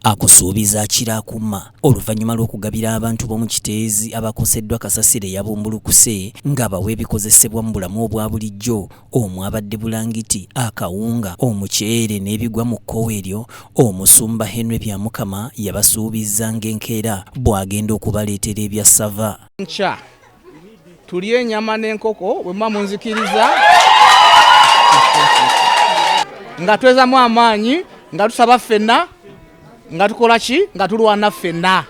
akusuubiza akira akuma oluvanyuma lw'okugabira abantu b'omu Kiteezi abakoseddwa kasasiro eyabumbulukuse ng'abawa ebikozesebwa mu bulamu obwa bulijjo omwabadde bulangiti, akawunga, omuceere n'ebigwa mu kkowe eryo Omusumba Henry Byamukama yabasuubizza ng'enkeera bw'agenda okubaleetera ebyassava. Enkya tulye enyama n'enkoko bwe muba munzikiriza nga twezamu amaanyi nga tusaba ffenna nga tukola ki nga tulwana ffenna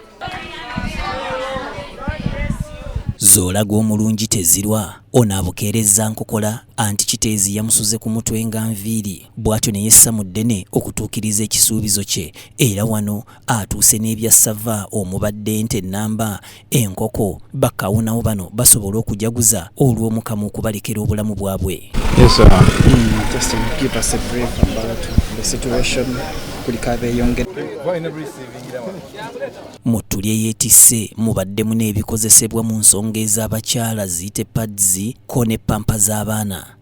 zoolaga omulungi tezirwa ono abukeerezza nkokola anti kiteezi yamusuze ku mutwe nga nviiri bw'atyo ne yessa mu ddene okutuukiriza ekisuubizo kye era wano atuuse n'ebya ssava omubadde ente ennamba, enkoko, bakawunawo bano basobole okujaguza olw'Omukama okubalekera obulamu bwabwe. Yes, uh, mm, just to give us a brief about the situation kulika abeyongera mu ttuli eyeetisse mubaddemu n'ebikozesebwa mu nsonga ez'abakyala ziyite pads ko ne pampa z'abaana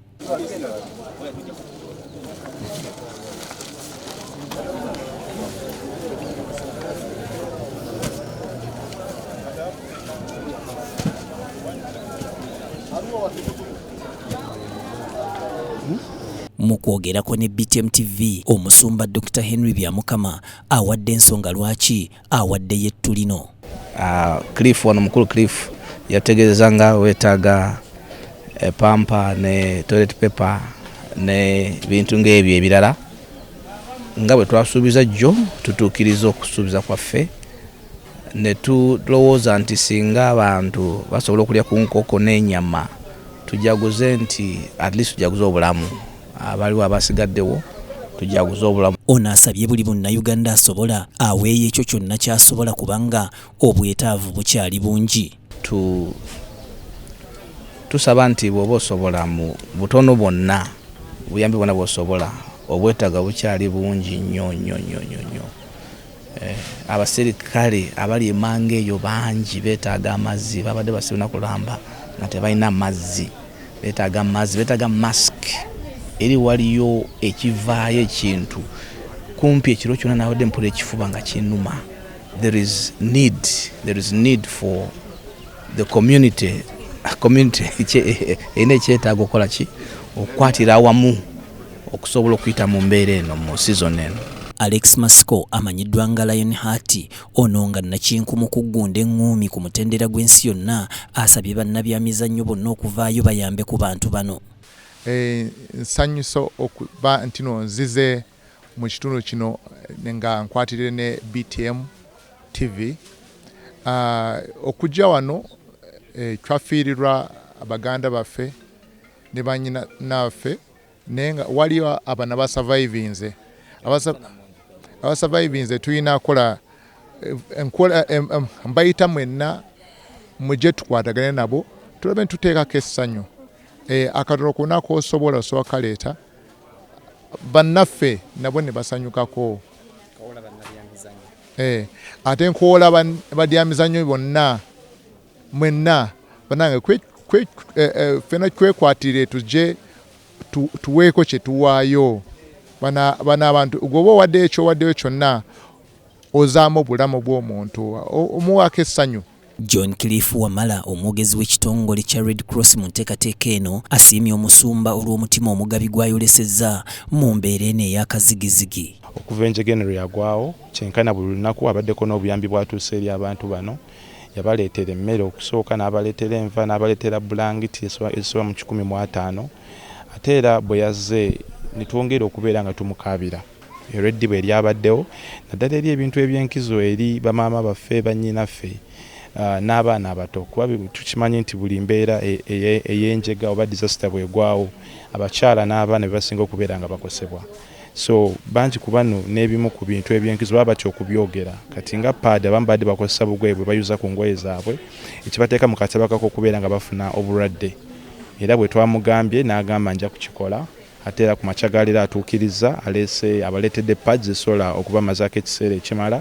Mu kwogerako ne BTM TV, omusumba Dokita Henry Byamukama awadde ensonga lwaki awaddeyo ettu lino. Uh, Cliff wano mukulu Cliff yategeeza nga wetaaga epampa eh, ne toilet paper ne bintu ng'ebyo ebirala nga bwe twasuubiza jjo tutuukiriza okusuubiza kwaffe ne tulowooza nti singa abantu basobola okulya ku nkoko n'enyama tujaguze nti at least tujaguze obulamu abaliwo abasigaddewo tujaguze obulamu. Ono asabye buli munnayuganda asobola aweeyo ekyo kyonna ky'asobola kubanga obwetaavu bukyali bungi. Tu tusaba nti bw'oba osobola mu butono bwonna obuyambi bwonna bw'osobola obwetaaga bukyali bungi nnyo nnyo nnyo nnyo. Eh, abaserikale abali emanga eyo bangi betaaga amazzi babadde basibina kulamba nga tebalina mazzi betaaga amazzi betaaga mask eri waliyo ekivaayo ekintu kumpi ekiro kyona nawade mpula ekifuba nga kinuma there is need there is need for the community community erina ekyetaaga okukola ki okukwatira awamu okusobola okuyita mu mbeera eno mu sizoni eno. Alex Masiko amanyiddwa nga Lion Heart ono nga nnakinku mu kuggunda eŋŋuumi ku mutendera gw'ensi yonna asabye bannabyamizannyo bonna okuvaayo bayambe ku bantu bano. Eh, nsanyusa okuba ntino nzize mu kitundu kino eh, nga nkwatirire ne BTM TV ah, okujja wano eh, twafiirirwa baganda baffe ne banyina naffe naye nga waliyo abana basavaivinze abasavaivinze tulina kola eh, enkola eh, eh, mbayita mwenna muje tukwatagane nabo tulabe ntuteekako essanyu akatono kona kosobola osobola kaleeta bannaffe nabo ne basanyukako ate nkoola badyamizanyo bonna Mwenna banange kwe, kwe, eh, eh, fena kwekwatire tuje tu, tuweeko kyetuwaayo bana, bana abantu gwoba owaddeyo ekyowaddeyo kyonna ozaamu obulamu bw'omuntu omuwaako essanyu John Cliff Wamala omwogezi w'ekitongole kya Red Cross mu nteekateeka eno asiimye omusumba olw'omutima omugabi gw'ayolesezza mu mbeera eno ey'akazigizigi. Okuva enjega eno lwe yagwawo, kyenkana buli lunaku abaddeko n'obuyambi bw'atuusa eri abantu bano. Yabaleetera emmere okusooka, n'abaleetera enva, n'abaleetera bbulangiti ezisoba mu kikumi mu ataano. Ate era bwe yazze ne twongera okubeera nga tumukaabira olw'eddibu eryabaddewo, naddala eri ebintu eby'enkizo eri bamaama baffe, bannyinaffe, n'abaana abato, kuba tukimanyi nti buli mbeera ey'enjega oba disaster bw'egwawo, abakyala n'abaana be basinga okubeera nga bakosebwa. So bangi ku bano n'ebimu ku bintu eby'enkizo baba batya okubyogera. Kati nga paadi abamu babadde bakozesa bugoye bwe bayuza ku ngoye zaabwe ekibateeka mu kataba k'okubeera nga bafuna obulwadde era bwe twamugambye n'agamba nja kukikola ate era ku makya ga leero atuukirizza aleese abaleetedde pads ezisobola okubamazaako ekiseera ekimala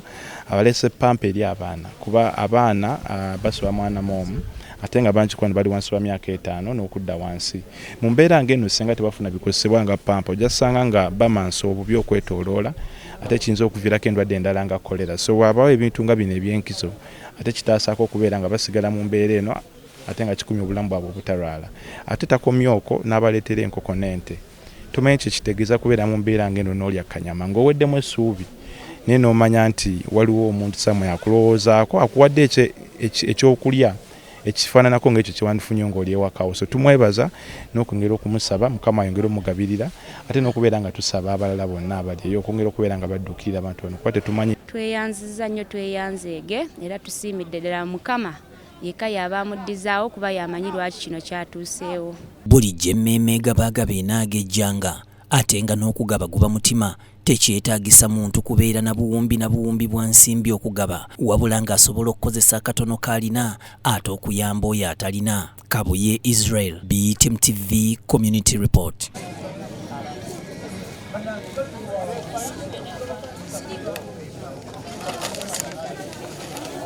abaleese pampa eri abaana kuba abaana ah, basoba mwana mu omu ate nga bangi ku bano bali wansi wa myaka etaano n'okudda wansi Mu mbeera ng'eno ssinga tebafuna bikozesebwa nga ppampa ojja kusanga nga bamansa obubi okwetooloola ate kiyinza okuviirako endwadde endala nga kkolera. So waabaawo ebintu nga bino eby'enkizo ate kitaasaako okubeera nga basigala mu mbeera eno ate nga kikumye obulamu bwabwe obutalwala. Ate takomye okwo n'abaleetera enkoko n'ente. Tomanyi kye kitegeeza kubeera mu mbeera ng'eno n'olya kanyama ng'oweddemu essuubi naye n'omanya nti waliwo omuntu samwe akulowoozaako akuwadde eky'okulya ekifaananako ng'ekyo kyewandifunye ng'oli ewakawo so tumwebaza n'okwongera okumusaba mukama ayongere omugabirira ate n'okubeera nga tusaba abalala bonna abali eyo okwongera okubeera nga baddukirira abantu bano kuba tetumanyi tweyanziza nnyo tweyanzeege era tusiimidde ddala mukama yekka y'aba amuddizaawo kuba y'amanyi lwaki kino kyatuuseewo. Bulijjo emmeeme egaba agaba enaagejjanga, ate nga n'okugaba guba mutima tekyetaagisa muntu kubeera na buwumbi na buwumbi bwa nsimbi okugaba wabula ng'asobola okukozesa akatono k'alina ate okuyamba oyo atalina. Kabuye Israel, BTM TV Community Report.